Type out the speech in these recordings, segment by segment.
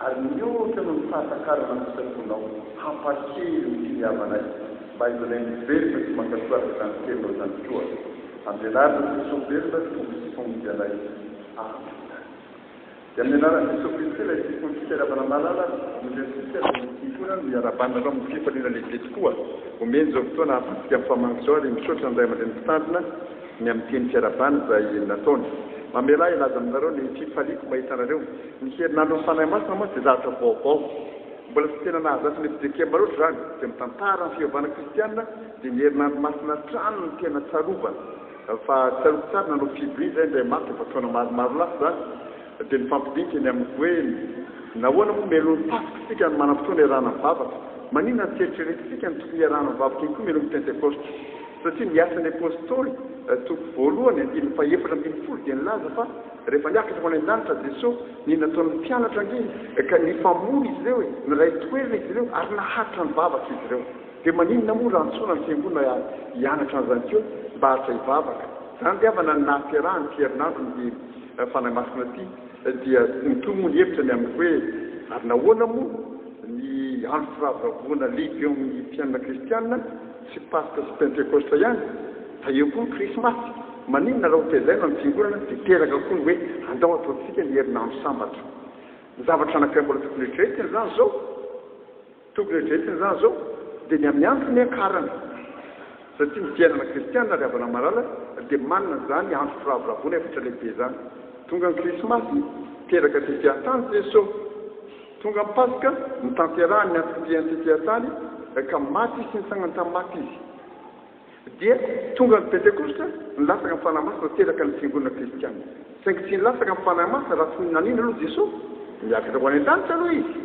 Ary mihoatra noho ny fahatakarana ny fisafoanao, hampahery ny finiavanay, mba hidonay mivelona sy mankatoa araka izany teninao izany koa. Amin'ny anaran'i Jesosy velona, Tompo sy Mpamody anay. Amena. Dia amin'ny anaran'i Jesosy Kristy ilay Tompon'ny fitiaravana malala, omentsika ny. Mpivondrona no iarahabana anao amin'ny fifaliana lehibe tokoa. Omeny izao fotoana hahafahantsika mifamangy izao ary misaotra ny Ray aman-dReny Mpitandrina ny amin'ny teny fiarahabana izay nataony. Mamelà hilaza aminareo ny fifaliako mahita anareo. Ny herinandron'ny Fanahy Masina mantsy dia zavatra vaovao. Mbola tsy tena nahazatra ny mpidekemba loatra izany, izay mitantara ny fivavahana kristiana dia ny herinandro masina hatrany no tena tsarovana. Fa tsarovy tsara, nanao fiboria izahay indray matoa efa taona maromaro lasa izany, dia nifampidinika ny amiko hoe, Nahoana moa melohin'ny Paska isika ny manam-potoana iarahana mivavaka? Maninona tsy eritreretintsika ny tokony hiarahana mivavaka ihany koa melohin'ny Pentekosta? Satria ny Asan'ny Apostoly, toko voalohany, andininy fahefatra ambin'ny folo, dia nilaza fa, Rehefa niakatra ho any an-danitra Jesoa, ny nataon'ny mpianatra ange ka nifamono izy ireo e! Niray toerana izy ireo ary naharitra nivavaka izy ireo. Dia maninona moa raha antsoina ny fiangonana hianatra an'izany koa mba haharitra hivavaka? Izany dia havana ny nahaterahany ity herinandro ny dia Fanahy Masina ity. Dia mitohy moa ny hevitra ny amin'ny hoe ary nahoana moa ny andro firavoravoana lehibe eo amin'ny fiainana kristiana? Tsy paska sy pentekosta ihany fa eo koa ny krismasy. Maninona raha hotezaina ny fiangonana dia teraka koa ny hoe andao ataontsika ny herinandro sambatra. Ny zavatra anankiray mbola tokony eritreretina izany izao, tokony eritreretina izany izao, dia ny amin'ny andro niakarana. Satria ny fiainana kristiana ry havana malala dia manana izany andro firavoravoana efatra lehibe izany. Tonga ny krismasy, teraka tetia tany Jeso. Tonga ny Paska, notanterahany ny antom-piain'ny tetehantany, ka maty sy nitsangana tamin'ny maty Izy. Dia tonga ny Pentekosta, nilatsaka ny Fanahy Masina teraka ny Fiangonana Kristianina. Saingy tsy nilatsaka ny Fanahy Masina raha tsy nanina aloha Jesoa. Niakatra ho any an-danitra aloha Izy.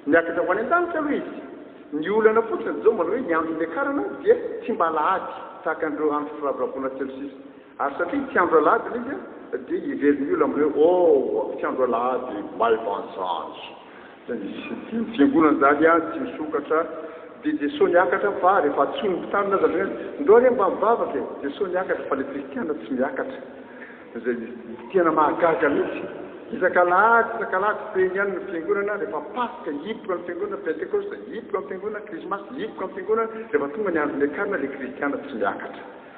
Niakatra ho any an-danitra aloha Izy. Ny olana fotsiny, Jesoa manao hoe, ny andro niakarana dia tsy mba alahady, tahaka an'ireo andro firavoravoana telo sisa. Ary satria tsy andro alahady ilay izy dia heverin'ny olona amin'ny hoe, Ooh, tsy andro alahady, maivan-jandry. Dia nisy ity ny fiangonana izany ah, tsy misokatra. Dia dia sao niakatra fa rehefa antsoin'ny mpitarina aza ny hoe, Ndao re mba mivavaka e! dia sao niakatra fa ilay kristiana tsy miakatra. Izay tena mahagaga mihitsy. Isak'alahady, isak'alahady feno ihany ny fiangonana, rehefa paska hipoka ny fiangonana, pentekosta hipoka ny fiangonana, krismasy hipoka ny fiangonana, rehefa tonga ny andron'ny akarana ilay kristiana tsy miakatra.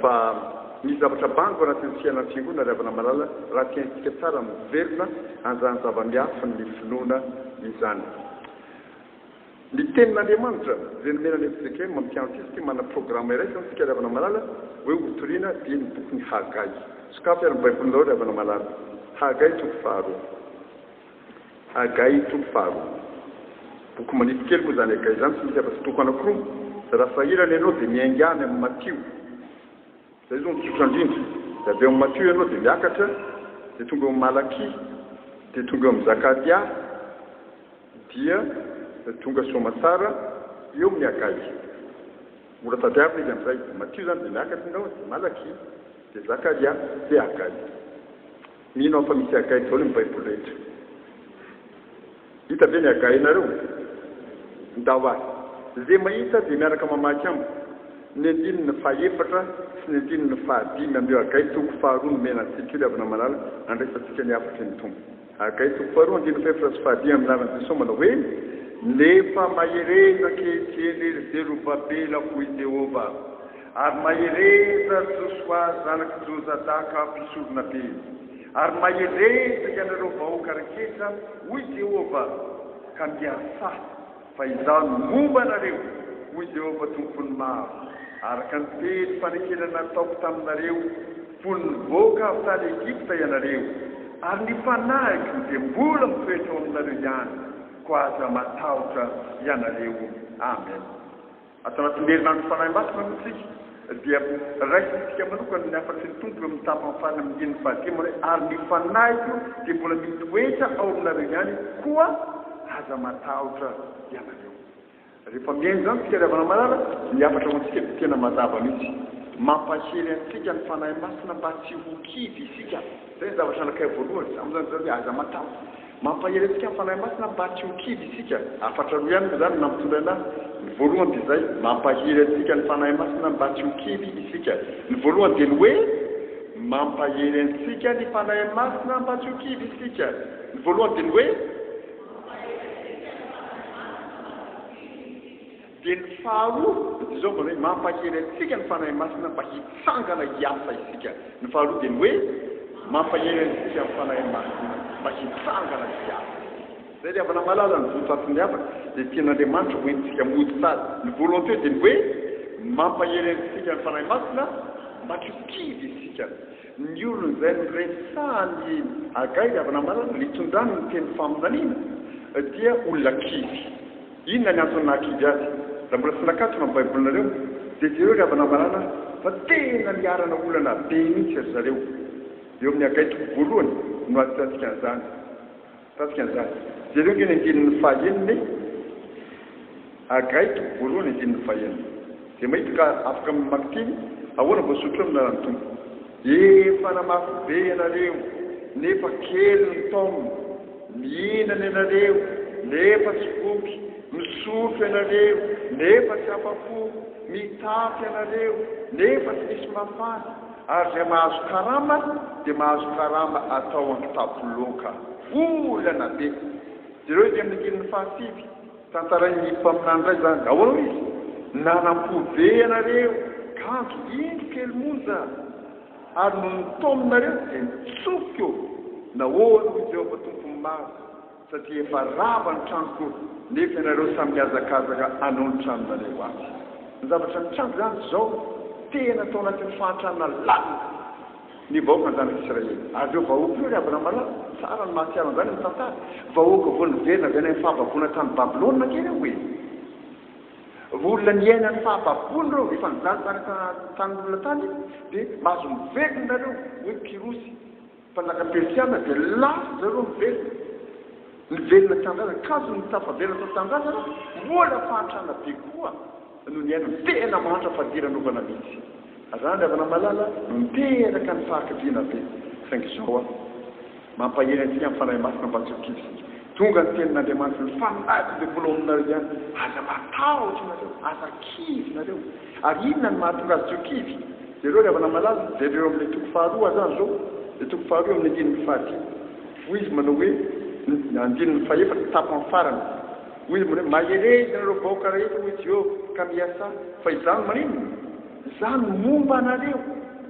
Fa misy zavatra bango anatin'ny fiainan'ny fiangonana ry havana malala raha tsy haintsika tsara miverina an'izany zava-miafin'ny finoana izany. Ny tenin'Andriamanitra izay nomena an'i Ezekm amin'ny mpianatisa ity manana programa iraisana antsika ry havana malala hoe hotorina dia ny bokin'i Hagay. Sokafy ary ny baibolinareo ry havana malala. Hagay toko faharoa. Hagay toko faharoa. Boky manify kely moa izany Hagay izany, tsy misy afa-tsy toko anankiroa. Raha sahirana ianao dia miainga any amin'ny Matio. Izay izao no tsotra indrindra. Dia avy eo amin'ny Matio ianao dia miakatra, dia tonga eo amin'ny Malakia, dia tonga eo amin'ny Zakaria, dia tonga soamatsara eo amin'ny Hagay. Mora tadiavina izy amin'izay. Matio izany dia miakatra ianao, dia Malakia, dia Zakaria, dia Hagay. Mino aho fa misy agahy daholo ny baiboly rehetra. Hita ve ny agahinareo? Ndao ary. Ze mahita dia miaraka mamaky amiko ny andininy faha efatra sy ny andininy faha dimy amin'io agahy toko faha roa nomena antsika io ry havana malala nandraisantsika ny hafatry ny Tompo. Agahy toko faha roa andininy faha efatra sy faha dimy amin'ny lalan'i Jesosy manao hoe. Nefa mahereza ankehitriny ry Zerobabela, hoy Jehovah, Ary mahereza Josoa zanak'i Jozadaka mpisoronabe, ary mahereza ianareo vahoaka rehetra, hoy Jehovah, ka miasahy, fa Izaho no momba anareo, hoy Jehovah Tompon'ny Maro, araka ny teny fanekena nataoko taminareo, fony nivoaka avy tany Egypta ianareo, ary ny fanahiko dia mbola mitoetra ao aminareo ihany, koa aza matahotra ianareo. Amen. Ato anatin'ny herinandro Fanahy Masina moa isika dia raisintsika manokana ny hafatry ny Tompo eo amin'ny tapany farany amin'ny diany fahadimy hoe, Ary ny Fanahiko dia mbola mitoetra ao aminareo ihany, koa aza matahotra ianareo. Rehefa mihaino izany isika ry havana malala, ny hafatra ho antsika dia tena mazava mihitsy. Mampahery antsika ny Fanahy Masina mba tsy ho kivy isika. Izay ny zavatra nakay voalohany, amin'izany izany hoe aza matahotra. Mampahery antsika ny Fanahy Masina mba tsy ho kivy isika. Hafatra roa ihany moa izany no nampitondraina ahy. Ny voalohany dia izay, mampahery antsika ny Fanahy Masina mba tsy ho kivy isika. Ny voalohany dia ny hoe, mampahery antsika ny Fanahy Masina mba tsy ho kivy isika. Ny voalohany dia ny hoe. Dia ny faharoa, dia izao manao hoe, mampahery antsika ny Fanahy Masina mba hitsangana hiasa isika. Ny faharoa dia ny hoe, mampahery antsika ny Fanahy Masina mba hitsangana hiasa isika. Izay ry havana malala, ny votoatin'ny havana dia tian'Andriamanitra ho entintsika mody tsara. Ny volonté dia ny hoe, mampahery antsika ny Fanahy Masina mba tsy ho kivy isika. Ny olona izay noresahan'i Hagay ry havana malala, nitondrany ny teny faminaniana, dia olona kivy. Inona ny antony nahakidy azy? Raha mbola tsy nakatona ny Baibolinareo, dia jereo ry havana maràna fa tena niharana olana be mihitsy ry zareo. Eo amin'ny Agay toko voalohany no ahitantsika an'izany. Hitantsika an'izany. Jereo ange ny andininy fahaenina e! Agay toko voalohany andininy fahaenina. Dia maity ka afaka mamaky teny, ahoana vao sotroy ny anaran'ny Tompo? Efa namafy be ianareo nefa kely ny taom, mihinana ianareo nefa tsy voky, misotro ianareo nefa tsy afa-po, mitapy ianareo nefa tsy misy mafana, ary izay mahazo karama dia mahazo karama atao an-kitapo loaka, volana be. Jereo ety amin'ny andininy fahasivy. Tantarain'ny mpaminany indray izany, ahoana hoy izy, Nanampo be ianareo, kanjo indro kely monja, ary nony nitaominareo dia nitsofiko, nahoana hoy Jehovah Tompon'ny Maro, satria efa rava ny tranoko, nefa ianareo samy mihazakazaka hanao ny tranonareo atsy. Ny zavatra nitranga izany dia izao, tena tao anatin'ny fahantrana lalina. Ny vahoakan'ny zanak'Israely. Ary ireo vahoaka ireo, ry Abramalama, tsara ny mahatsiaro an'izany amin'ny tantara, vahoaka vao niverina avy any amin'ny fahababoana tany Babylona ange ireo e! Vao olona niaina ny fahababoana ireo, efa nijanojano an-tanin'olona tany, dia mahazo miverina nareo, hoy Kyrosy, mpanjaka persiana, dia lasa-dry zareo miverina. Nivelona tanindrazana, kanjo ny tafaverina tao tanindrazana, mbola fahantrana be koa no niainana. Tena mahantra fadiranovana mihitsy. Randry Avanamalala no niteraka ny fahakiviana be, saingy izao an! Mampahery antsika amin'ny Fanahy Masina mba tsy ho kivy isika. Tonga ny tenin'Andriamanitra, ny fanahiko dia mbola ao aminareo ihany. Aza matahotra ianareo, aza kivy nareo. Ary inona no mahatonga azy tsy ho kivy? Jereo ry Avanamalala, jereo amin'ilay toko faharoa aza izao, ilay toko faharoa amin'ny andininy fahadimy. Hoy izy manao hoe, ny andininy fahefatra, tapany farany, Hoy izy manao hoe, Mahereza ianareo vahoaka rehetra, hoy Jehovah, ka miasà, fa Izaho no maninona? Izaho no momba anareo,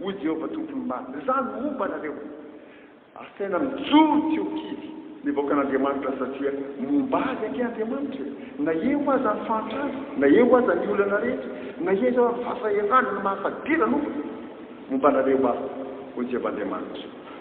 hoy Jehovah Tompon'ny Maro. Izaho no momba anareo. Asaina mijoro tsy ho kivy ny vahoakan'Andriamanitra satria momba azy ange Andriamanitra e! Na eo aza ny fahantrana, na eo aza ny olana rehetra, na eo aza ny fahasahiranana mahafadirana, momba anareo Aho, hoy Jehovah Andriamanitra.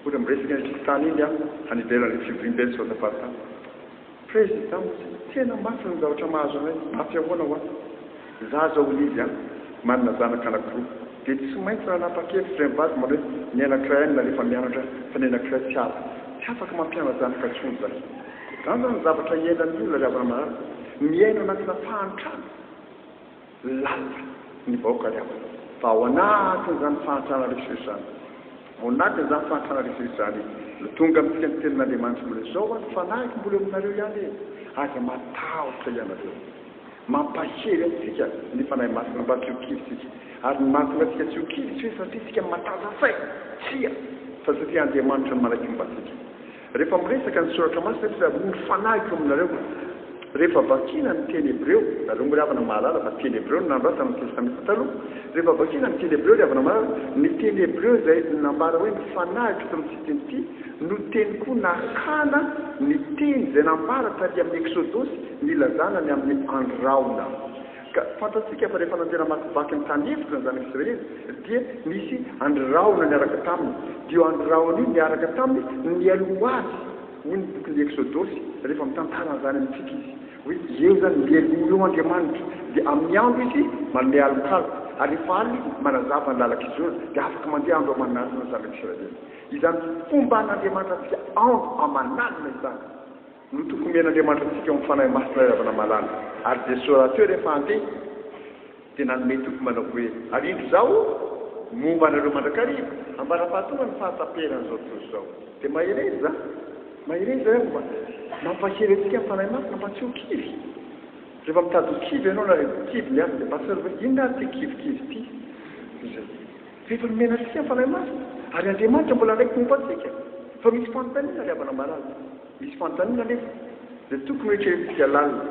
Mbola miresaka iny fokontany iny aho any ivelan'ny fivoriamben'ny Sotapartam. Prezida moa tsy tena mafy ny zavatra mahazo anay, mafy ahoana ho ahy? Za zao hoy izy an, manana zanaka anakiroa, dia tsy maintsy nanapa-kevitra iray mivady manao hoe ny anakiray any narefa mianatra fa ny anakiray tsy azo, tsy afaka mampiana-janaka intsony za. Zany zany ny zavatra iainan'ny olona ry havana marary, miaina anatina fahantrana. Lapa ny vahoaka ry havana fa ao anatin'izany fahantrana rehetra izany, ao anatin'izany fahantrana rehetra izany no tonga amintsika ny tenin'Andriamanitra mbola izao ary ny fanahiko mbola eo aminareo ihany e! aza matahotra ianareo, mampahery antsika ny Fanahy Masina mba tsy ho kivy isika ary ny mahatonga antsika tsy ho kivy tsy hoe satria isika matanjaka saina, tsia, fa satria Andriamanitra no manaiky momba antsika. Rehefa miresaka ny Soratra Masina anefa izay, amory fanahy ko aminareo. Rehefa vakina ny teny hebreo, nareo moa ry havana mahalala fa teny hebreo no nanoratana ny Testamenta Taloha, rehefa vakina ny teny hebreo ry havana mahalala, ny teny hebreo izay nambara hoe ny fanahiko eto amin'ity teny ity no teny koa nakana ny teny izay nambara taty amin'ny Eksodosy nilazana ny amin'ny andro rahona. Ka fantatsika fa rehefa nandeha namakivaky ny tany efitra ny Zanak'i Israely, dia nisy andry rahona niaraka taminy. Dia io andry rahona io niaraka taminy no nialoha ho azy, hoy ny bokin'ny Eksodosy, rehefa mitantara an'izany amintsika izy, hoe eo izany, mialoha eo Andriamanitra, dia amin'ny andro Izy manome alokaloka, ary rehefa alina Izy manazava ny lalan-kizorana, dia afaka mandeha andro aman'alina ny Zanak'i Israely. Izany fomban'Andriamanitra antsika andro aman'alina izany. no toky omen'Andriamanitra antsika ao amin'ny Fanahy Masina ilay ravina malala. Ary Jesoa rahateo rehefa handeha dia nanome toky manao hoe, Ary indro izaho momba anareo mandrakariva, ambara-pahatonga ny fahataperan'izao tontolo izao. Dia mahereza izaho. Mahereza izaho hoe mba mampahery antsika ny Fanahy Masina mba tsy ho kivy. Rehefa mitady ho kivy ianao na rehefa kivy ny hafa dia mba tsarovy hoe inona ary ity kivikivy ity. Izay. Rehefa nomena antsika ny Fanahy Masina, ary Andriamanitra mbola hanaiky momba antsika fa misy fanontaniana ry havana malala. Misy fanontaniana anefa dia tokony ho eritreretintsika lalina.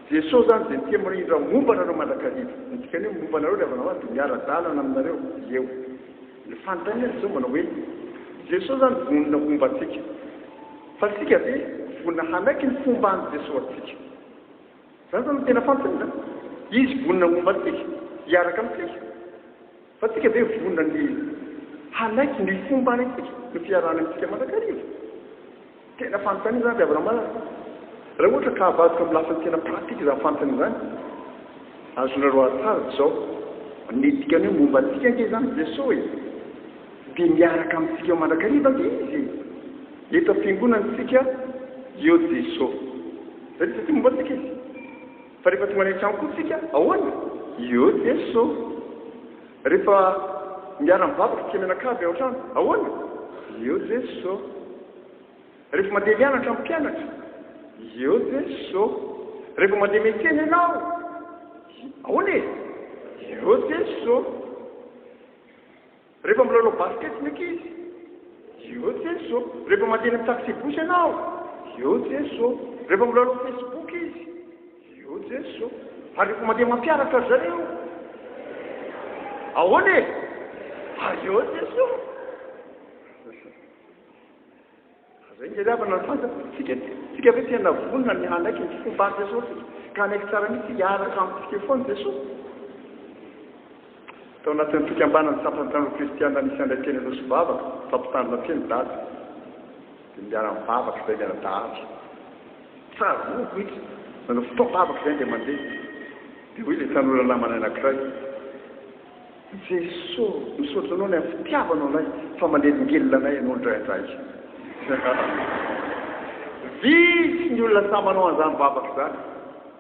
Jesosy izany dia tia mirindra momba anareo mandrakariva. Ny dikan'ny hoe momba anareo ry havana maro dia miara-dalana aminareo izy eo. Ny fanontaniana dia izao manao hoe, Jesosy izany vonona homba antsika. Fa isika ve vonona hanaiky ny fomban'i Jesosy antsika? Izany izany no tena fanontaniana. Izy vonona homba antsika, hiaraka amintsika. Fa tsika ve vonona ny hanaiky ny fomba antsika no fiarahana amintsika mandrakariva? Tena fanontaniana izany ry Abraham ary raha ohatra ka avadika amin'ny lafiny tena pratika izany fanontaniana izany, azonareo ady tsara dia izao, ny dikany hoe momba antsika ange izany i Jesoa e! Dia miaraka amintsika eo mandrakariva ange Izy e! Eto am-piangonana isika eo Jesoa, izay dia satria momba antsika Izy. Fa rehefa tonga any an-trano koa tsika, ahoana? Ieuh Jeso! Rehefa miara mivavaka tsika mianakavy ao an-trano, ahoana? Ieuh Jeso! Rehefa mandeha mianatra amin'ny mpianatra, ieuh Jeso! Rehefa mandeha miantsena ianao, ahoana e? Ieuh Jeso! Rehefa milalao basket ny ankizy, eo Jeso. Rehefa mandeha eny amin'ny taxi-bus ianao, eo Jeso. Rehefa milalao Facebook izy, eo Jeso. Ary rehefa mandeha mampiaraka ry zareo, ahoana e? Ary eo Jeso. Izay no tadiavina ny fantatra dia isika anie. Isika ve tena vonona ny hanaiky ny fomban'i Jesoa tsika, ka hanaiky tsara mihitsy hiaraka amin'ny fiefoan'i Jesoa? Tao anatin'ny fikambanan'ny sampana tanora kristiana nisy andray teny Anosimbavaka, fampitandrina teny Dada, dia niara-nivavaka izahay miara-dahatra. Tsaroako mihitsy, nanao fotoam-bavaka izahay indray mandeha, dia hoy ilay tanora namanay anankiray, Jeso misaotra anao lay fitiavanao anay fa manelingelina anay ianao ndraindray Vitsy ny olona sahy manao an'izany vavaka izany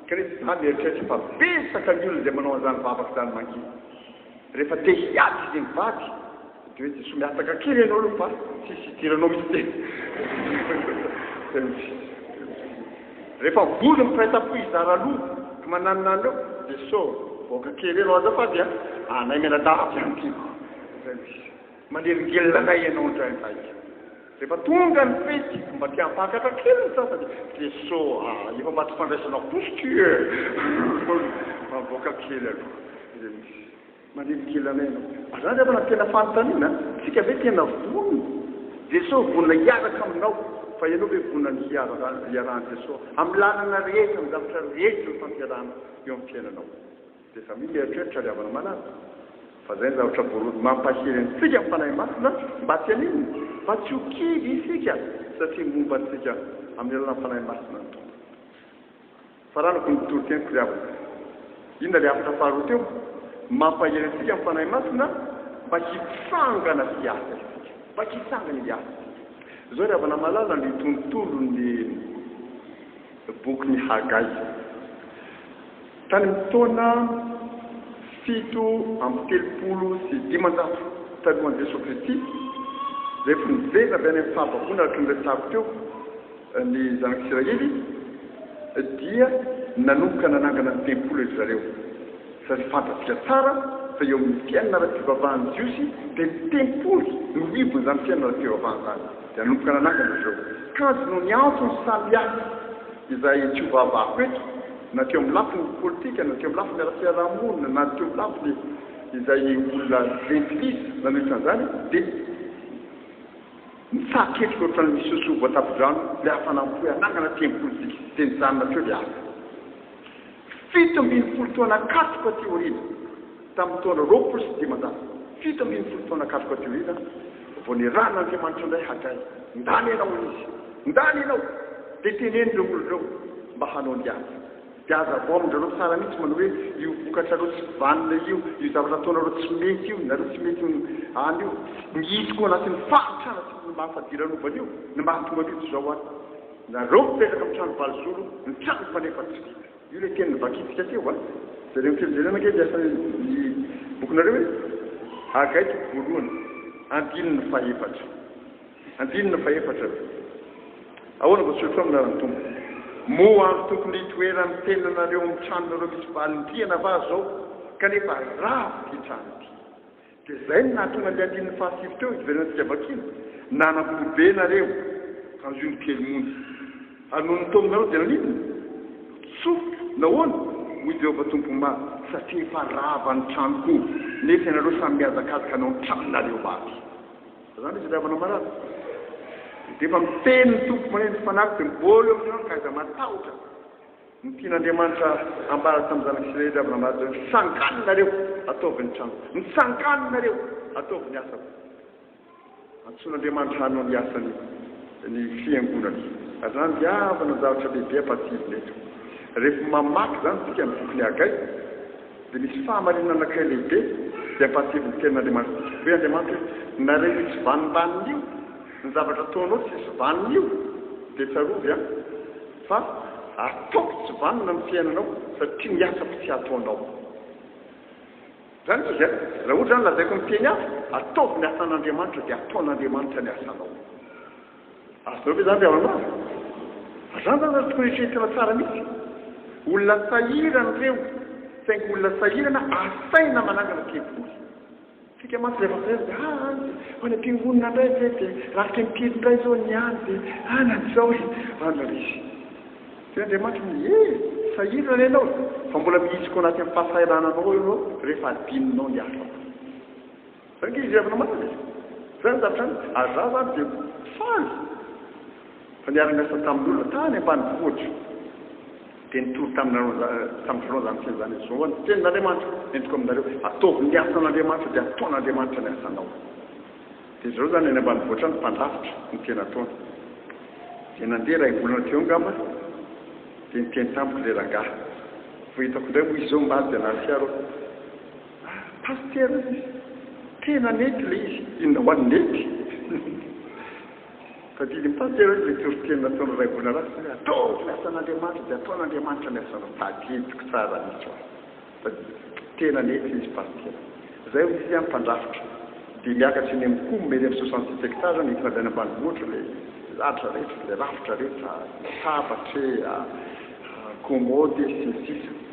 kanefa za mieritreritra fa betsaka ny olona izay manao an'izany vavaka izany mangidy rehefa te hiady izy mivady de hoe Jeso mihataka kely ianao aloha fa tsisy hidiranao mihitsy e. Refa vory ny mpiray tampo hizara loha ry mananinany reo de so vahoaka kere reo aza fa dia anay mianadahy aby zany tiako zay no izy manelingelina anay ianao indray vaika refa tonga ny fety mba te hampakatra kely ny sasany de so ah efa maty fandraisana posy tu eh mavoaka kely aloha zay no izy. Mandeha kely anay ianao. Fa zany angamba no tena fanontaniana an! Tsika ve tena vonona? Jesoa vonona hiaraka aminao, fa ianao ve vonona ny hiarahan'i Jesoa amin'ny lalana rehetra, amin'ny zavatra rehetra ifampiarahana eo amin'ny fiainanao? Dia efa misy eritreritra ry havana malala, fa zay ny zavatra voalohany mampahery antsika ny Fanahy Masina mba tsy haninona? Mba tsy ho kivy isika, satria momba antsika amin'ny alalan'ny Fanahy Masina ny Tompo. Faranako ny toroteniko ry havana. Inona ilay hafatra faharoa teo? Mampahery antsika ny Fanahy Masina mba hitsangana sy hiasa isika. Mba hitsangana hiasa isika. Izao ry havana malala ny tontolon'ny bokin'i Hagay. Tany amin'ny taona fito amby telopolo sy dimanjato talohan'i Jesoa Kristy, rehefa niverina avy any amin'ny fahababoana araka ny resahako teo, Ny Zanak'Isiraely dia nanomboka nanangana ny tempoly ry zareo, satria fantatsika tsara fa eo amin'ny fiainana ara-pivavahan'ny Jiosy dia ny tempoly no rivon'izany fiainana ara-pivavahana izany. Dia nanomboka nanangana ry zareo. Kajy noho ny antony samihafa izay tsy hovahavahako eto, na teo amin'ny lafiny politika, na teo amin'ny lafiny ara-piarahamonina, na teo amin'ny lafiny izay olona jentilisa nanohitra an'izany, dia. Nitsahatra ketrika ohatran'ny misosoa voatapidrano ilay hafana mifoha hanangana tempoly sy kizitin'i Janna teo ilay asa. Fito ambin'ny folo taona katroka aty aoriana, tamin'ny taona roapolo sy dimanjato, fito ambin'ny folo taona katroka aty aoriana, vao nirahin'Andriamanitra indray Hagay, Ndany ianao, hoy Izy, ndany ianao, dia teneno ireo olona ireo mba hanao ny ady. Dia aza vao amin-dry zareo tsara mihitsy manao hoe io vokatrareo tsy vanona io, io zavatra ataonareo tsy mety io, nareo tsy mety ho any io. Mihitsy koa anatin'ny fahantrana sy ny maha fadiranovana io ny mahatonga an'io toy izao ary. Nareo mipetraka amin'ny trano valozoro, ny trano fanefa tsy vita. Io ilay teny novakintsika teo an. Jereo ny teny jereo ange ny asan'ny bokinareo hoe, Hagay toko voalohany, andininy faha efatra. Andininy fahefatra, Ahoana vao tsy ho taomina ary ny Tompo? Moa ary tokony hitoeran' ny tenanareo amin' ny tranonareo misy valim-piana va zao? Kanefa rava ity trano ity. Dia izay no nahatonga ny andininy fahasivy teo hiverenantsika vakina, Nanam-po be nareo, ka noho ny kely monja. Ary noho ny taominareo dia naninona? Tsofoka. Nahoana? Hoy i Jehovah Tompo Maty, Satria efa rava ny tranoko, nefa ianareo samy mihazakazaka hanao ny tranonareo maty. Zany izy ry havana marary. Dia efa miteny ny Tompo maneno ny fanahiko dia mibôly eo amin'ireo aho ka aiza matahotra ny tian'Andriamanitra ambara tamin'ny zanak'Israely ry havana marary hoe mitsangàna nareo ataovy ny tranoko, mitsangàna nareo ataovy ny asako. Antsoin'Andriamanitra hanao ny asany ny fiangonany. Zany ry havana ny zavatra lehibe ampahatsivinay eto. Rehefa mamaky izany isika ny bokin'i Hagay, Dia misy fahamarinana anankiray lehibe izay ampahatsiahin'ny Tenin'Andriamanitra antsika. Hoy Andriamanitra hoe, Nareo io tsy vanimbaniny io, ny zavatra ataonao tsisy vaniny io, dia tsarovy an, fa ataoko tsy vanona ny fiainanao satria ny asako tsy ataonao. Izany izy an, raha ohatra izany lazaiko amin'ny teny hafa, ataovy ny asan'Andriamanitra dia ataon'Andriamanitra ny asanao. Azonao ve izany ry Ramalala? Azany izany ary tokony eritreretana tsara mihitsy. Olona sahirana ireo, saingy olona sahirana asaina manangana tempoly. Isika mantsy rehefa sahirana dia ah any dia ho any am-piangonana indray ve dia rafitra impiry indray izao ny any dia ah na izao e! Any ry Lisy. Dia Andriamanitra no hoe eh! sahirana anie ianao e! fa mbola mihitsiko anaty amin'ny fahasahirananao eo ianao rehefa adinonao ny hafa. Saingy izy avy namaly, izany zavatra izany, ary izaho izany dia faly fa niara-niasa tamin'ny olona tany ambanivohitra, dia nitory taminareo tamin'ny voalohany izany teny izany, izao ny tenin'Andriamanitra entiko aminareo, ataovy ny asan'Andriamanitra dia ataon'Andriamanitra ny asanao. Dia izy ireo izany any ambanivohitra any mpandrafitra no tena ataony. Dia nandeha iray volana teo angamba, dia niteny tamiko ilay rangahy, vao hitako indray moa izy izao omaly dia nahasiaro aho. Ary pasitera izy, tena nety ilay izy, inona ho an'ny nety? Tadidin'ny pasitera ilay toriteny nataon'i Raibonarasy hoe ataovy ny asan'Andriamanitra dia ataon'Andriamanitra ny asanao. Tadidiko tsara mihitsy ho'a. Tadidiko. Tena nety ilay izy pasitera. Izay hoy izy, mpandrafitra, dia miakatra eny amin'ny com, eny amin'ny soixante six hectares aho nentina avy any ambanivohitra ilay ladra rehetra, ilay rafitra rehetra, latabatra e, commode e, sy ny sisa.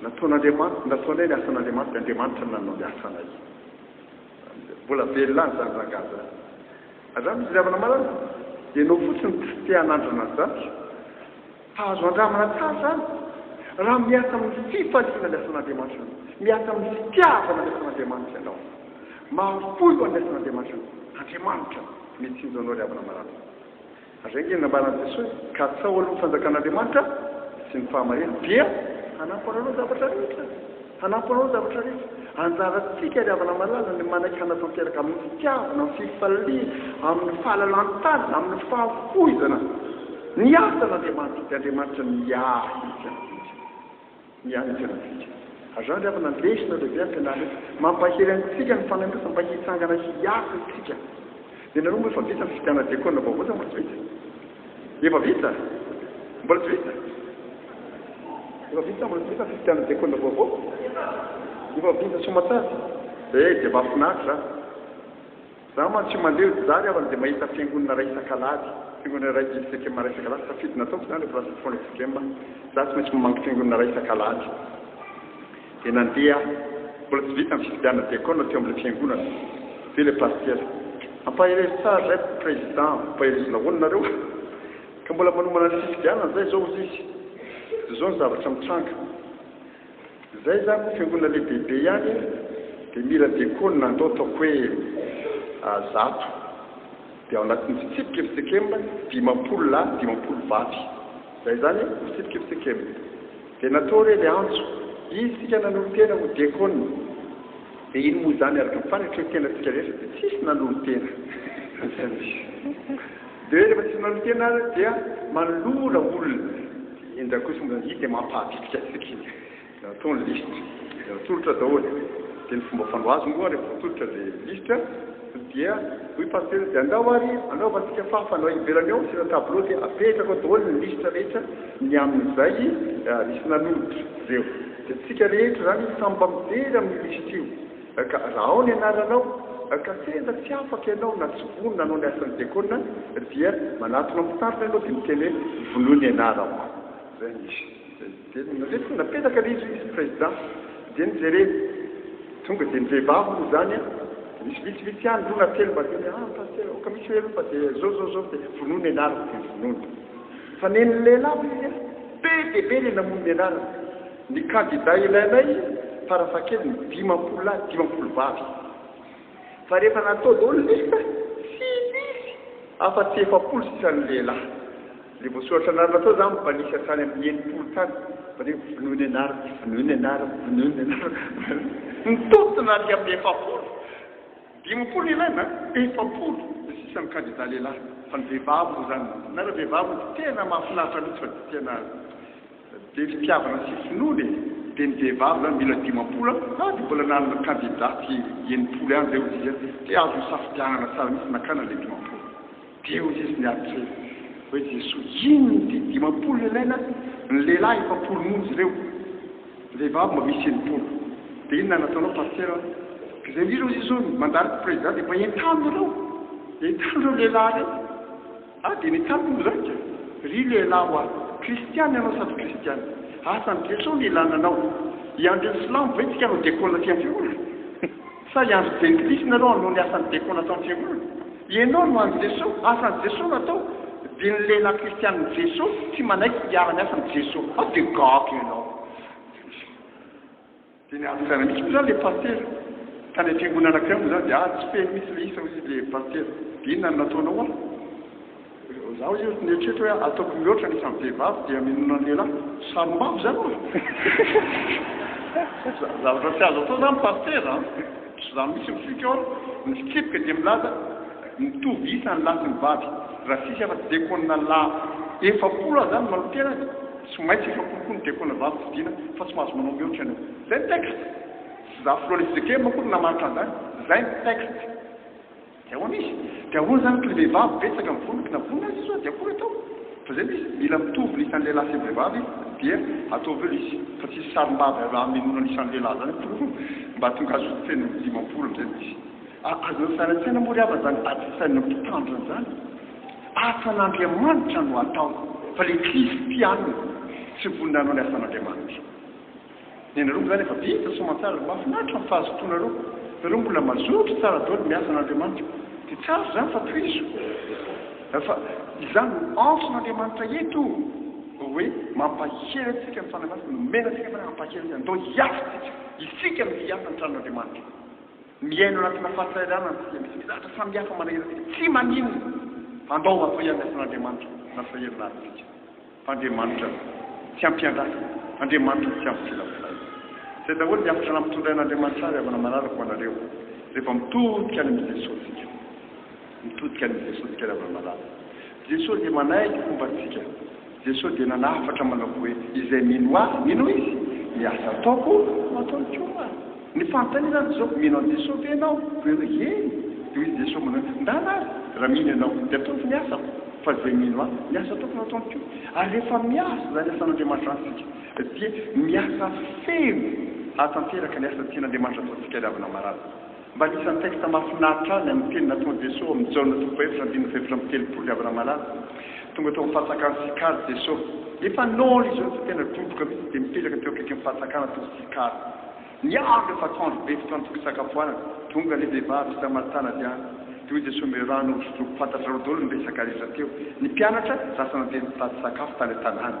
Nataon'Andriamanitra, nataonay ny asan'Andriamanitra, Andriamanitra no nanao ny asanay. Mbola velona any izany rangahy izany. Andramo ny fitiavana marina? Ianao fotsiny no tsy te hanandrana an'izany. Fa azo andramana tsara izany raha miasa amin'ny fifaliana ny asan'Andriamanitra ianao, miasa amin'ny fitiavana ny asan'Andriamanitra ianao, mahafoy ho an'ny asan'Andriamanitra ianao. Andriamanitra no mitsinjo anao ry havana marary. Reny ny nambaran'i Jesoa, Katsaho aloha ny fanjakan'Andriamanitra sy ny fahamariany, dia hanampo anareo ny zavatra rehetra. Hanampo anareo ny zavatra rehetra. Anjarantsika ry havana malala ny manaiky hanatanteraka amin'ny fitiavana, amin'ny fifaliana, amin'ny fahalalan-tanana, amin'ny fahafoizana ny asan'Andriamanitra, dia Andriamanitra miahy izany rehetra izany. Miahy ny fiainantsika. Azao ry havana, lesona lehibe ampianarina eto. Mampahery antsika ny fanandrifana mba hitsangana hiasa isika. Ianareo moa efa vita ny fifidianana diakona vaovao sa mbola tsy vita? Efa vita? Mbola tsy vita? Efa vita sa mbola tsy vita ny fifidianana diakona vaovao? Efa vita soamantsara? Eh, dia mahafinaritra! Za man tsy mandeha eo zary aho de mahita fiangonana ray isak'alahady fiangonana ray misy fekema ray isak'alahady safidy nataoko zany refa lasa fotoana fekema za tsy maintsy mamangy fiangonana ray isak'alahady de nandeha aho mbola tsy vita ny fifidianana diakona teo amle fiangonana de le pastera ampaherezo tsara zay president ampaherezo nahoana nareo ka mbola manomana ny fifidianana zay zao ozy izy de zao ny zavatra mitranga Zay za ko fiangonana lehibe be ihany de mira diakona andao ataoko hoe a zato de ao anatin'ny fitsipika fcm dimampolo lahy dimampolo vavy zay zany e fitsipika fcm de natao re le antso izy sika nanolo tena ho diakona de ino moa zany araka ny fanatrehan-tena tsika rehetra de tsisy nanolo tena zay no izy. Dia rehefa tsy manao miteny ary dia manolora olona. Indray kosa moa izany, iny dia mampahabitika antsika iny. Dia atao ny lisitra, dia atolotra daholo. Dia ny fomba fanao azy moa rehefa atolotra ilay lisitra dia hoy pasitera, dia andao ary anaovantsika fahafana ivelany ao, asiana tableau dia apetraka ao daholo ny lisitra rehetra ny amin'izay nisy nanolotra ireo. Dia isika rehetra izany samy mba mijery amin'io lisitra io. Ka raha ao ny anaranao, ka tena tsy afaka ianao na tsy vonona hanao ny asan'ny diakona, dia manatona mpitarina ianao dia miteny hoe, vonoy ny anarako. Izay no misy. Dia nandresy koa, napetraka ilay izy, izy président. Dia nojereny. Tonga dia ny vehivavy moa izany an, dia nisy vitsivitsy ihany, roa na telo mba teny, ah, pasteur, aoka misy hoe eropa, dia izao, izao, izao, dia vonoy ny anarako, dia vonoiny. Fa nen'ny lehilahy hoy izy an, be dia be ilay namono ny anarany. Ny kandida ilainay farafahakeliny dimampolo lahy dimampolo vavy. Fa rehefa natao daholo ny liste, tsy nisy afa-tsy efapolo sisa ny lehilahy. Ilay voasoratra anarana tao za mba nisy hatrany amin'ny enimpolo tany. Fa dia vonoy ny anarako, tsy vonoy ny anarako, vonoy ny anarako. Nitontona aty amin'ny efapolo. Dimampolo ny ilaina an, efapolo ny sisa ny kandida lehilahy. Fa ny vehivavy moa izany, na ireo vehivavy moa tena mahafinaritra mihitsy fa tena. Dia fitiavana sy finoana e! Dia ny vehivavy zany mila dimampolo an! Ah dia mbola nanana kandida tsy enimpolo ihany zay hozy izy an! Dia azo nisafidianana tsara mihitsy nakana ilay dimampolo! Dia hozy izy niantrena hoe Jesoa inona ity dimampolo no ilaina an! Ny lehilahy efapolo monja ireo! Ny vehivavy mba misy enimpolo! Dia inona no nataonao Pasitera an! Ka izay indrindra hozy izy hoe mandalo Prezida dia mba entano ireo! Entano ireo lehilahy ireo! Aho dia nitsapa ho raika, ry lehilahy ho ahy, kristiana ianao sa tsy kristiana? Asan'i Jeso ny hilana anao. Hiandry ny silamo ve tsika hanao dekona aty am-piangonana? Sa hiandry jentilisa nareo hanao ny asan'ny dekona ato am-piangonana? Ianao no an'i Jeso, asan'i Jeso no atao, dia ny lehilahy kristianin'i Jeso tsy manaiky hiara-miasa amin'i Jeso. Aho dia gaga ianao. Dia ny ady tsy aina mihitsy moa izany ilay pasitera. Tany amin'ny fiangonana anankiray moa izany dia ady tsy feno mihitsy ilay isa hoy ilay pasitera. Dia inona no nataonao ho'a? Izaho hoy izy nieritreritra hoe ataoko mihoatra ny isan'ny vehivavy dia minoana ny lehilahy. Sarombavy izany ho'a! Zavatra tsy azo atao izany ny pasitera an! Tsy izaho mihitsy mifikitra ao an! Ny fitsipika dia milaza mitovy isa ny lahy sy ny vavy. Raha tsisy afa-tsy dekônina lahy efapolo aza izany manao-tena dia. Tsy maintsy efa kolikoly ny diakona vavy fidiana fa tsy mahazo manao mihoatra ianao. Zay ny texte. Tsy za filoha le fjkm akory namaritra an'zany. Zay ny texte. De ahoana izy? De ahoana zany kle vehivavy betsaka mivonona kna vonona aza izy oa de akory atao? Fa zay mihitsy, mila mitovy ny isan'ny lehilahy sy ny vehivavy dia ataovy eo le izy. Fa tsisy sarim-bavy azo hamenoana ny isan'ny lehilahy zany atoa mba tonga azo feno dimampolo amzay mihitsy. Azonao saina an-tsaina moa ry havana zany ady fisainan'ny mpitandrina zany. Asan'Andriamanitra no atao fa le kristianina tsy vonona hanao ny asan'Andriamanitra ny anareo moa zany efa vita soamantsara mafinaritra ny fahazotoanareo nareo mbola mazoto tsara daoly miasa an'Andriamanitra de tsara zany fa tohizo fa izany no antson'Andriamanitra eto oe mampahery antsika ny fanahy masina nomena antsika fanahy hampahery antsika ndao hiasa isika isika no hiasa ny tranon'Andriamanitra Miaina ao anatina fahasahiranana isika, misy mizatra samihafa manahirana isika, tsy maninona fa andao hatao ihany ny asan'Andriamanitra na sahirana aza isika fa Andriamanitra tsy ampiandrasana, Andriamanitra tsy ampisilasilaina. Izay daholo ny hafatra nampitondrain'Andriamanitra ahy ry havana manaraka ho anareo, rehefa mitodika any amin'i Jesoa isika. Mitodika an'i Jesoa isika ry havana malala. Jesoa dia manaiky fomba antsika. Jesoa dia nanafatra manao hoe, Izay mino Ahy, mino Ahy izy, ny asa ataoko no ataony koa. Ny fanontaniana dia izao, mino an'i Jesoa ve ianao? Koa ianao hoe, Eny. Dia hoy i Jesoa manao hoe, Ndana ary, raha mino ianao, dia ataovy ny asako. Fa izay mino Ahy, ny asa ataoko no ataony koa. Ary rehefa miasa izany asan'Andriamanitra amintsika, dia miasa feno hahatanteraka ny asa tian'Andriamanitra ataontsika ry havana malala. Mba anisan'ny texte mahafinaritra ahy ny amin'ny teny nataon'i Jesoa ao amin'ny Jaona toko fahaefatra andininy fahaefatra amby telopolo ry havana malala. Tonga teo amin'ny fahatsakan'i Sikara i Jesoa. Efa nôly izy ireo dia tena doboka mihitsy dia mipetraka teo akaikin'ny fahatsakana tao Sikara. Niandry efa atoandro be fotoana tokony hisakafoanana. Tonga ilay vehivavy samaritana avy any. Dia hoy Jesoa omeo rano hosotroiko. Fantatrareo daholo ny resaka rehetra teo. Ny mpianatra lasa nandeha nitady sakafo tany an-tanàna.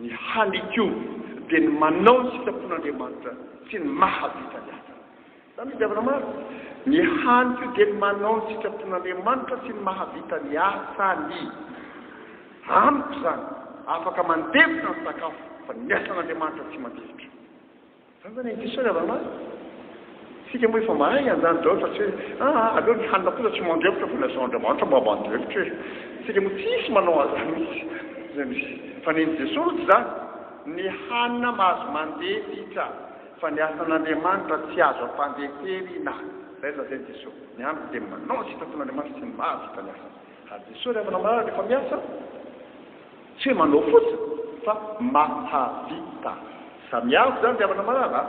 Ny hany koa dia ny manao ny sitrapon'Andriamanitra sy ny mahavita ny asany. Izany ry diavina maro. Ny hany koa dia ny manao ny sitrapon'Andriamanitra sy ny mahavita ny asany. Amiko izany, afaka mandevona ny sakafo, fa ny asan'Andriamanitra tsy mandefitra. Zandany ange sao iaraha-maty. Isika moa efa mahay handany daholo fa tsy hoe aa aleo ny hanina kosa tsy mandrepotra fa ilay zava-dramanitra mba mandrepotra e. Isika moa tsisy manao an'izany mihitsy. Izay misy. Fa nen'i Jesoa aloha tsy izany. Ny hanina mahazo mandeha ritra fa ny asan'Andriamanitra tsy azo ampandeferina. Izay no lazain'i Jesoa. Ny haniko dia manao ny sitrapon'Andriamanitra sy ny mahavita ny asany. Ary Jesoa rehefa nambarany rehefa miasa. Tsy hoe manao fotsiny fa mahavita. Samy hafa izany ry havana malala a!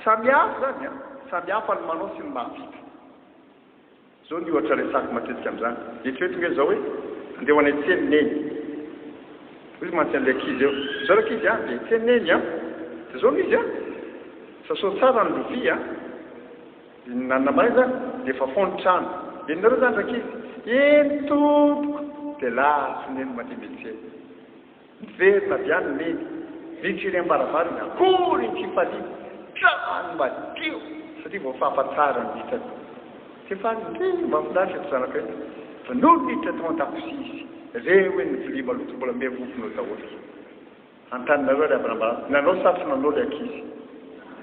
Samy hafa izany a! Samy hafa ny manao sy ny mahavita. Izao ny ohatra resako matetika amin'izany, eritrereto ange izao hoe andeha ho any an-tsena i Neny. Hoy izy mantsy an'ilay ankizy eo, izao ry ankizy a, andeha hiantsena i Neny a! Dia izao no izy a! Sasao tsara ny lovia a! Inona na may izany dia efa fô ny trano. Enonareo izany rankizy? Eny tompoko! Dia lasa neny mandeha miantsena. Miverina avy any neny, vitsy iry am-baravarana, akory ny fifaliana! Trano madio! Satria voafafa tsara ny hitsako. Tsy faly ndry! Mahafinaritra ito zanakay ty! Fa nony niditra tao an-dakozia izy, reo eny ny vilia maloto mbola miha vovona eo daholo. Antaninareo ary Abraham, nanao satrona anao ilay ankizy.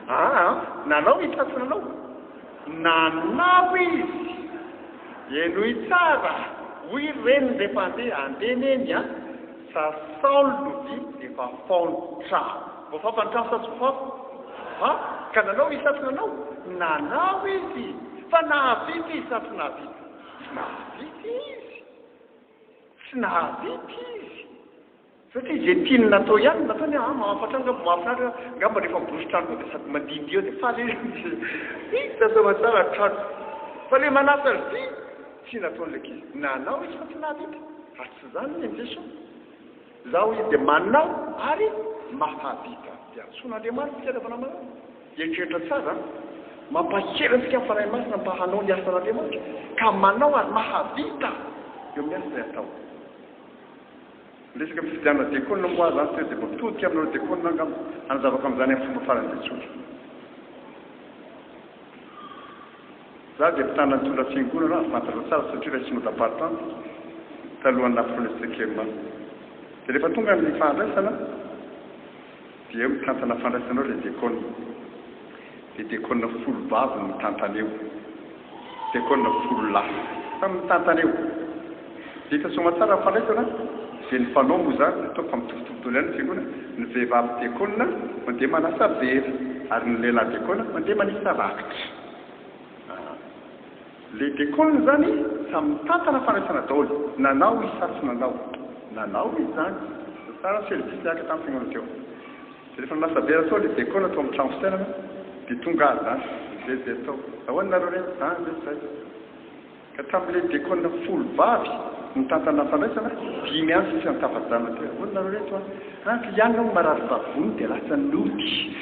Aa, nanao izy satrona anao? Nanao izy! Henoy tsara, hoy ry reniny rehefa handeha, andeha neny a! Sa saolo lovia efa faony trano. Voafafa ny trano sa tsy voafafa? Aa, ka nanao izy satrona anao? Nanao izy! Fa nahavita izy sa tsy nahavita? Tsy nahavita izy! Tsy nahavita izy! Satria izay tiany natao ihany no nataony hoe, ah mahafatra angamba, mahafinaritra angamba rehefa miborosy trano koa dia sady mandihindihy eo dia faly izy no misy hoe, hi tazava tsara ny trano. Fa ilay manasa azy ity, tsy nataon'ilay ankizy. Nanao izy fa tsy nahavita. Ary tsy izany hoy an'i Jesoa. Izaho hoy izy dia manao ary mahavita. Dia antsoin'Andriamanitra ny fitiavana manao. Eritreritra tsara an! Mampahery antsika ny Fanahy Masina mba hanao ny asan'Andriamanitra, ka manao ary mahavita eo amin'ny asa izay atao. Ny resaka fifidianana diakona moa aza teo dia mitodika amin'ireo diakona angamba hanazavako amin'izany amin'ny fomba farany be tsotra. Izaho dia mpitana nitondra fiangonana ary fantatrao tsara satria ilay synoda partante talohan'ny nahafoy an'i Steckermann. Dia rehefa tonga ny fahandraisana, Dia eo mitantana fandraisanao ilay diakona. Dia diakona folo vavy no mitantana eo. Diakona folo lahy samy mitantana eo. Dia hita soamatsara ny fandraisana. Dia ny fanao moa izany, ataoko fa mitovitovy daholo ihany ny fiangonana, ny vehivavy diakona mandeha manasa vera, ary ny lehilahy diakona mandeha manisa rakitra. Le Déconne zany sa mitantana fanaisana daoly, nanao izy sa tsy nanao? Nanao izy zany, fa tsara feno diso niaraka taminy tegnolo teo. De refa lasa be ratoa le Déconne tao am tragno fisainana de tonga azy zany fively be tao, ahoana nareo re? zany ve zay? Ka tamy le Déconne folo vavy nitantana fanaisana, dimy any sisa nitafa-janona teo, ahoana nareo reto a? An ka ianona hono marary vavony de lasa nody,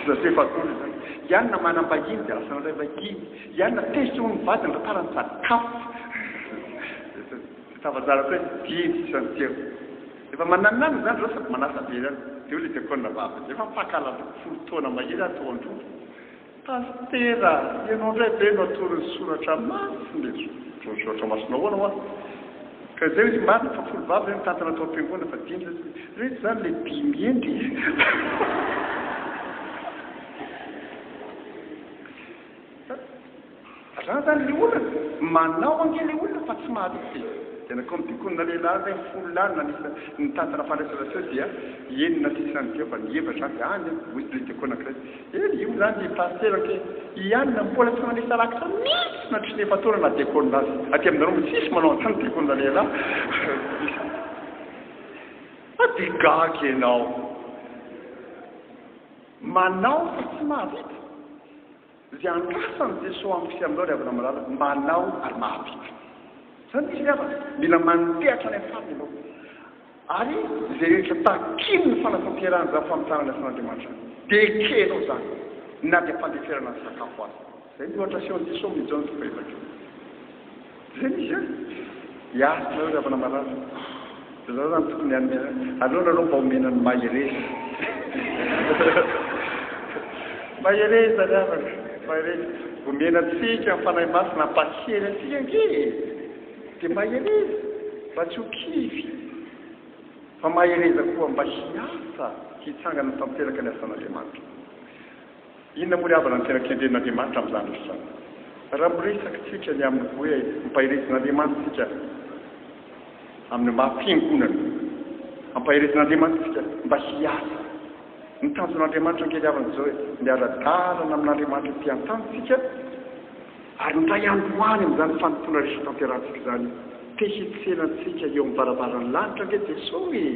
zay zay vavony zany, ianona manam-bahiny de lasa nandray vahiny, Iany natezitra ho ny vadiny ry tarany sady kafo. Tafazarako hoe didy sy antsievo. Efa mananonanona izany izao sady manasa be izany. Dia hoy ilay diakona vavy, dia efa mpankahalatra folo taona mahery aho tao an-trondro. Pasitera, ianao indray ve no atoro ny soratra masina eto? Atoro ny soratra masina ahoana hoa? Ka izay hoy izy, marina fa folo vavy ve mitantana tao am-piangonana fa dimy izao isika? Ireto izany ilay dimy hendry e! Zany zany le olana, manao ange le olona fa tsy mahatoky e! Tena comme dit kony na lehilahy aza hoe folo lahy no nanisa ny tantana fandraisana feo dia enina sisa ny feo fa ny hevitra zany any an! hoy le diakona anankiray, eh io zany le pasitera ange i anona mpola tsy manisa rakitra mitsy na trisy nefa toana na diakona aza, aty aminareo mbo tsisy manao anzany diakona lehilahy fa de gaga enao! Manao fa tsy mahavita. Izay andrasan'i Jesoa amin'i Kristy amin'izao ry havana malala, manao ary mahavita. Izany misy ry havana, mila mandeha hatrany amin'ny farany ianao. Ary izay rehetra takian'ny fanatanterahana izany famitahana ny asan'Andriamanitra izany, dia ekenao izany, na dia am-pandeferana ny sakafo aza. Zay ny loatra feo diso ao mijao ny fomba hevakeo zay misy an! hiaritra nareo ry havana marary de za zany tokony hanome aleo nareo mba omena ny mahereza mahereza ry havana mahereza omena antsika ny fanahy masina hampahery antsika ange e de mahereza mba tsy ho kivy fa mahereza koa mba hiasa hitsangana tanteraka ny asan'Andriamanitra Inona moa ry havana no tena kendren'Andriamanitra amin'izany rehetra izany? Raha miresaka isika ny amin'ny hoe ampaherezin'Andriamanitra isika amin'ny maha fiangonana, ampaherezin'Andriamanitra isika mba hiasa. Ny tanjon'Andriamanitra ange ry havana dia izao hoe miara-dalana amin'Andriamanitra ety an-tany isika, Ary ny Ray androany amin'izany fanompoana rehetra tanterahantsika izany, te hitsena antsika eo amin'ny varavaran'ny lanitra ange Jesoa e!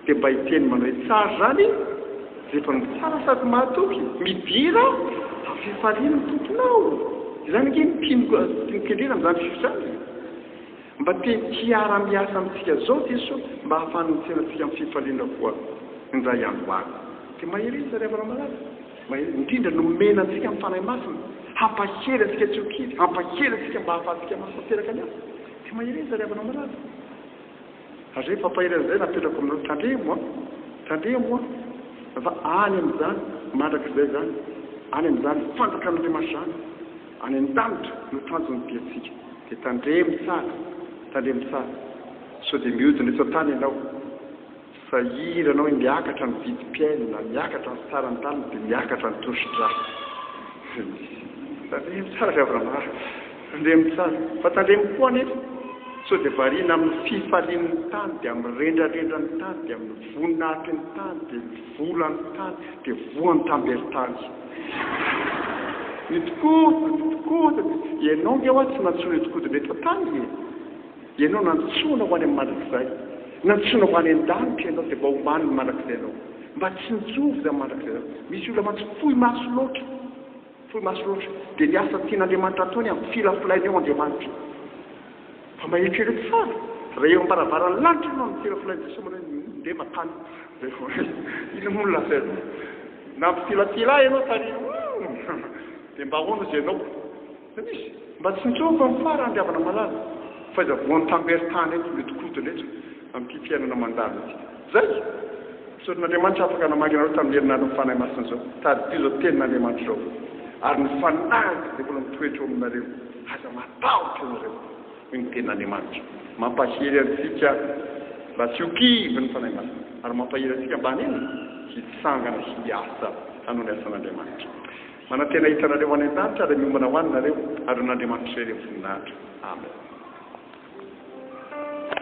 Dia mba hiteny manao hoe tsara izany Ze mpanompo tsara sady mahatoky, midira amin'ny fifalian'ny Tomponao! Izany ange ny mpino mpino kendrena amin'izany fio izany e! Mba te hiara miasa amintsika izao Jesoa mba hahafahany mitsena antsika amin'ny fifaliana koa ny Ray androany. Dia mahereza ry havana malala. Maherin'ny indrindra nomena antsika ny Fanahy Masina hampahery antsika tsy ho kivy, hampahery antsika mba hahafahantsika mafy tanteraka ny asa. Dia mahereza ry havana malala. Ary izay fampaherezana izay no apetrako aminareo, tandremo an! Tandremo an! Fa any amin'izany, mandrakizay izany, any amin'izany fanjakan'Andriamanitra izany, any an-danitra no tanjon'ny diantsika. Dia tandremo tsara, tandremo tsara, sao dia mihodina eto an-tany ianao. Sahira anao hoe miakatra ny vidim-piainana, miakatra ny saran'ny tanana dia miakatra ny tosidra. Tandremo tsara ry Avramar, tandremo tsara. Fa tandremo koa anefa sao dia variana amin'ny fifalian'ny tany, dia amin'ny rendrarendran'ny tany, dia amin'ny voninahitry ny tany, dia ny volan'ny tany, dia voan'ny tamberin-tany. Ny tikoto, ny tikoto, ianao nge hoa tsy nantsoina tikoto indray tao tany e! Ianao nantsoina ho any amin'ny mandrakizay. Nantsoina ho any an-danitra ianao dia mba omaly ny mandrakizainao. Mba tsinjovy izany mandrakizainao. Misy olona mantsy fohy maso loatra, fohy maso loatra, dia ny asa tian'Andriamanitra hatao ny hampifilafilaina eo Andriamanitra. Fa mba eritrereto tsara, raha eo am-baravaran'ny lanitra ianao no mifilafilain'i Jesoa manao hoe, Ndeha mankany. Dia hoe, inona moa no lazainao? Nampifilafila ahy ianao tary. Dia mba ahoana hozy ianao? Misy. Mba tsy niseho fa mifara andry havana malala. Faiza voan tamber tany eto mety kodina eto amin'ity fiainana mandalo ity. Zay! Misaotra an'Andriamanitra afaka namaky anareo tamin'ny herinandron'ny Fanahy Masina izao. Tadidio izao tenin'Andriamanitra izao. Ary ny Fanahiko dia mbola mitoetra eo aminareo. Aza matahotra ianareo. Hoy ny tenin'Andriamanitra. Mampahery antsika mba tsy ho kivy ny Fanahy Masina. Ary mampahery antsika mba haninona? Hitsangana hiasa hanao ny asan'Andriamanitra. Manantena hahita anareo any an-danitra ary miomana ho any nareo ary ho an'Andriamanitra irery amin'ny voninahitra. Amen.